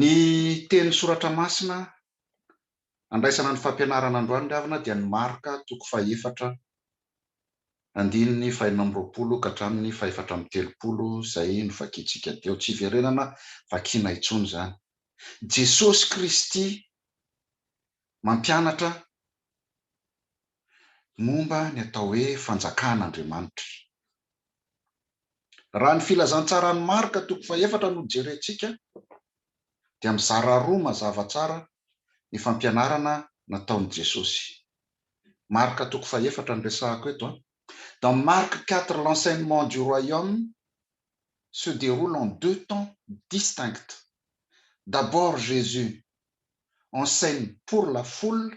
Ny tenin'ny soratra masina andraisana ny fampianarana androany ry havana dia ny Marka toko fahefatra andininy fahenina amby roapolo ka hatramin'ny fahefatra amby telopolo izay novakintsika teo, tsy hiverenana vakiana intsony izany. Jesosy Kristy mampianatra momba ny atao hoe Fanjakan'Andriamanitra. Raha ny filazantsaran'i Marka toko fahefatra no jerentsika, dia mizara roa mazava tsara ny fampianarana nataon'i Jesosy. Marka toko fahefatra no resahako eto. Dans Marc quatre l'enseignement du royaume se deroule en deux temps distincts. D'abord Jesus enseigne pour la foule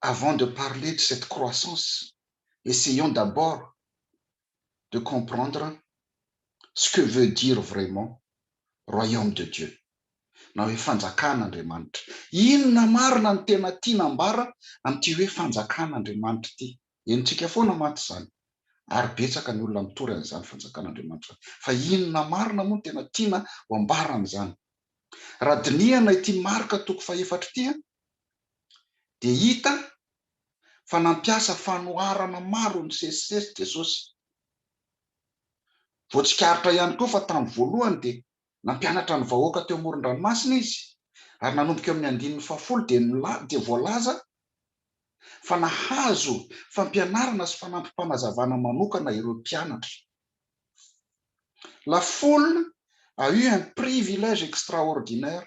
Avant de parler de cette croissance, essayons d'abord de comprendre ce que veut dire vraiment Royaume de Dieu na hoe Fanjakan'Andriamanitra. Inona marina no tena tiana ambara amin'ity hoe Fanjakan'Andriamanitra ity? Henontsika foana mantsy izany ary betsaka ny olona mitory an'izany Fanjakan'Andriamanitra izany. Fa inona marina moa no tena tiana ho ambara amin'izany? Raha dinihana ity marika toko fahefatra ity, dia hita fa nampiasa fanoharana maro nisesisesy Jesosy. Voatsikaritra ihany koa fa tamin'ny voalohany dia nampianatra ny vahoaka teo amoron-dranomasina izy, ary nanomboka eo amin'ny andininy fahafolo dia dia voalaza fa nahazo fampianarana sy fanampim-panazavana manokana ireo mpianatra. La foule a eu un privilège extraordinaire.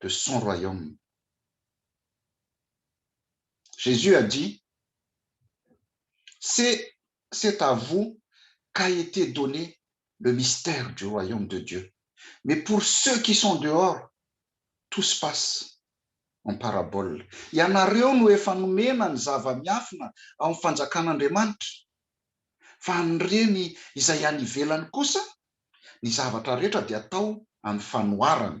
de son royaume. Jesus a dit ce c'est à vous qu'a ete donne le mystère du royaume de Dieu mais pour ceux qui sont dehors tout se passe en parabole ianareo no efa nomena ny zava-miafina ao amin'ny fanjakan'Andriamanitra fa an'ireny izay any ivelany kosa ny zavatra rehetra dia atao amin'ny fanoharana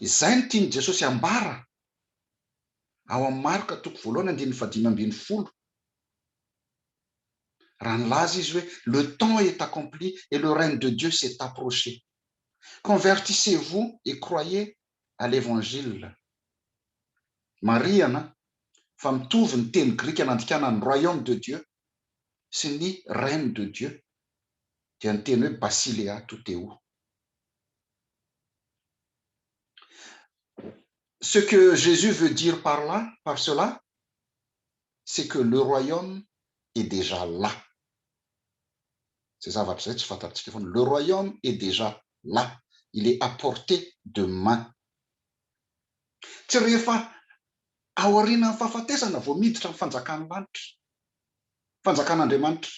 Izay no tian'i Jesosy ambara ao amin'ny Marka toko voalohany andininy fahadimy ambin'ny folo, raha nilaza Izy hoe, Le temps est accompli et le règne de Dieu s'est approché. Convertissez-vous et croyez à l'Evangile. Marihana fa mitovy ny teny grika nandikana ny Royaume de Dieu sy ny Règne de Dieu dia ny teny hoe Basilea tou theou. Ce que Jesus veut dire par là, par cela, c'est que le Royaume est déjà là. Izay zavatra izay tsy fantatsika foana. Le Royaume est déjà là, il est à portée de main. Tsy rehefa aorianan'ny fahafatesana vao miditra ny fanjakan'ny lanitra, fanjakan'Andriamanitra.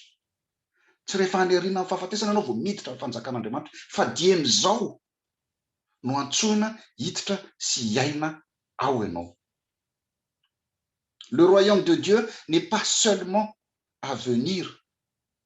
Tsy rehefa any aorianan'ny fahafatesana ianao vao miditra ny fanjakan'Andriamanitra, fa dieny izao no antsoina hiditra sy hiaina ao ianao. Le royaume de Dieu n'est pas seulement à venir.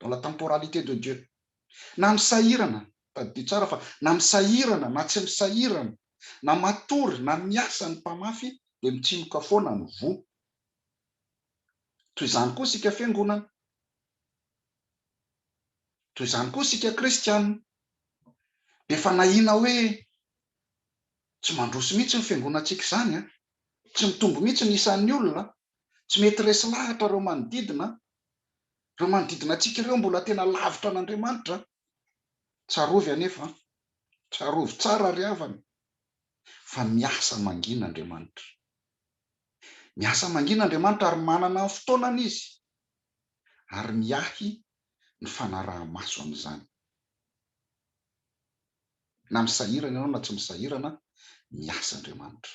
dans la temporalité de Dieu. Na misahirana, tadidio tsara fa na misahirana na tsy misahirana, na matory na miasa ny mpamafy dia mitsimoka foana ny voa. Toy izany koa isika fiangonana. Toy izany koa isika kristiana. Dia efa nahiana hoe tsy mandroso mihitsy ny fiangonantsika izany an! Tsy mitombo mihitsy ny isan'ny olona Tsy mety resy lahatra ireo manodidina. Ireo manodidina antsika ireo mbola tena lavitra an'Andriamanitra. Tsarovy anefa an! Tsarovy tsara ry havana fa miasa mangina Andriamanitra. Miasa mangina Andriamanitra ary manana ny fotoanany Izy ary miahy ny fanaraha-maso amin'izany. Na misahirana ianao na tsy misahirana, miasa Andriamanitra.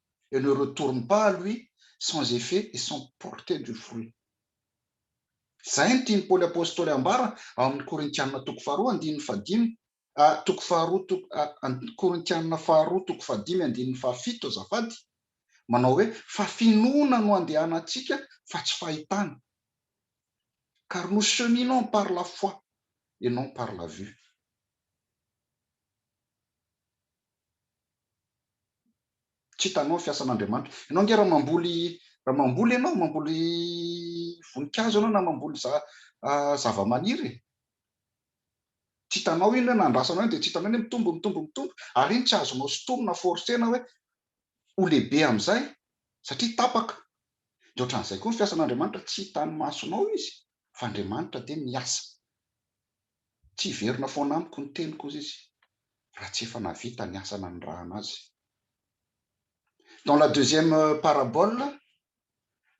et ne retourne pas à lui sans effet et sans porter du fruit. Izay no tian'i Paoly Apostoly ambara ao amin'ny Korintianina toko faharoa andininy fahadimy, toko faharoa toko, Korintianina faharoa toko fahadimy andininy fahafito azafady, manao hoe, fa finoana no andehanantsika fa tsy fahitana, car nous cheminons par la foi et non par la vue. Tsy hitanao ny fiasan'Andriamanitra. Ianao ange raha mamboly, raha mamboly ianao, mamboly voninkazo ianao na mamboly zavamaniry e, tsy hitanao iny hoe na andrasanao iny dia tsy hitanao iny hoe mitombo, mitombo, mitombo, ary iny tsy azonao sintomina, forcer-na hoe ho lehibe amin'izay satria tapaka. Dia ohatran'izay koa ny fiasan'Andriamanitra, tsy hitan'ny masonao izy fa Andriamanitra dia miasa. Tsy hiverina foana amiko ny teniko, hoy izy, raha tsy efa nahavita ny asa nanirahana azy. Dans la deuxième parabole,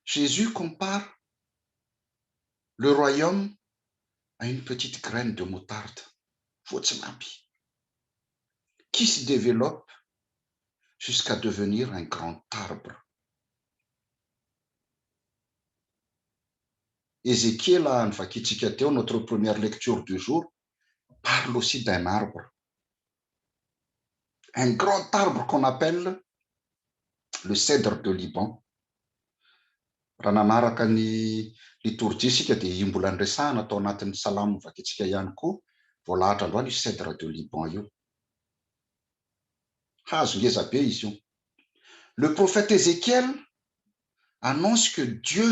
Jesus compare le royaume à une petite graine de moutarde, voatsinapy, qui se developpe jusqu'à devenir un grand arbre. Ezekiela any vakintsika teo notre première lecture du jour parle aussi d'un arbre un grand arbre qu'on appelle le cèdre de Liban raha nanaraka ny litorjia isika dia io mbola niresahana tao anatin'ny salamo vakintsika ihany koa voalahatra androany io cèdre de Liban io hazo ngeza be izy io le prophète Ezekiel annonce que Dieu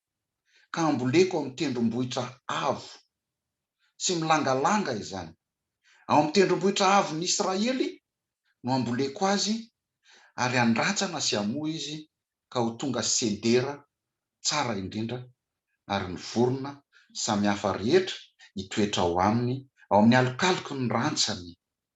ka amboleko ao amin'ny tendrombohitra avo sy milangalanga izany. Ao amin'ny tendrombohitra avon'i Israely no amboleko azy, ary handratsana sy hamoa izy ka ho tonga sedera tsara indrindra, ary ny vorona samihafa rehetra hitoetra ao aminy, ao amin'ny alokaloky ny rantsany.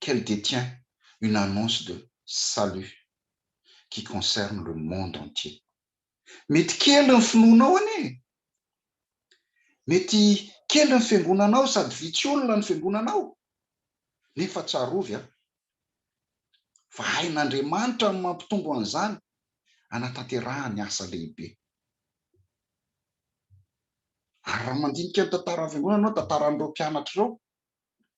qu'elle détient une annonce de salut qui concerne le monde entier. Mety kely ny finoanao anie e! Mety kely ny fiangonanao sady vitsy olona ny fiangonanao, nefa tsarovy an! fa hain'Andriamanitra ny mampitombo an'izany hanatanterahany ny asa lehibe. Ary raha mandinika ny tantaran'ny fiangonana ianao, tantaran'ireo mpianatra ireo,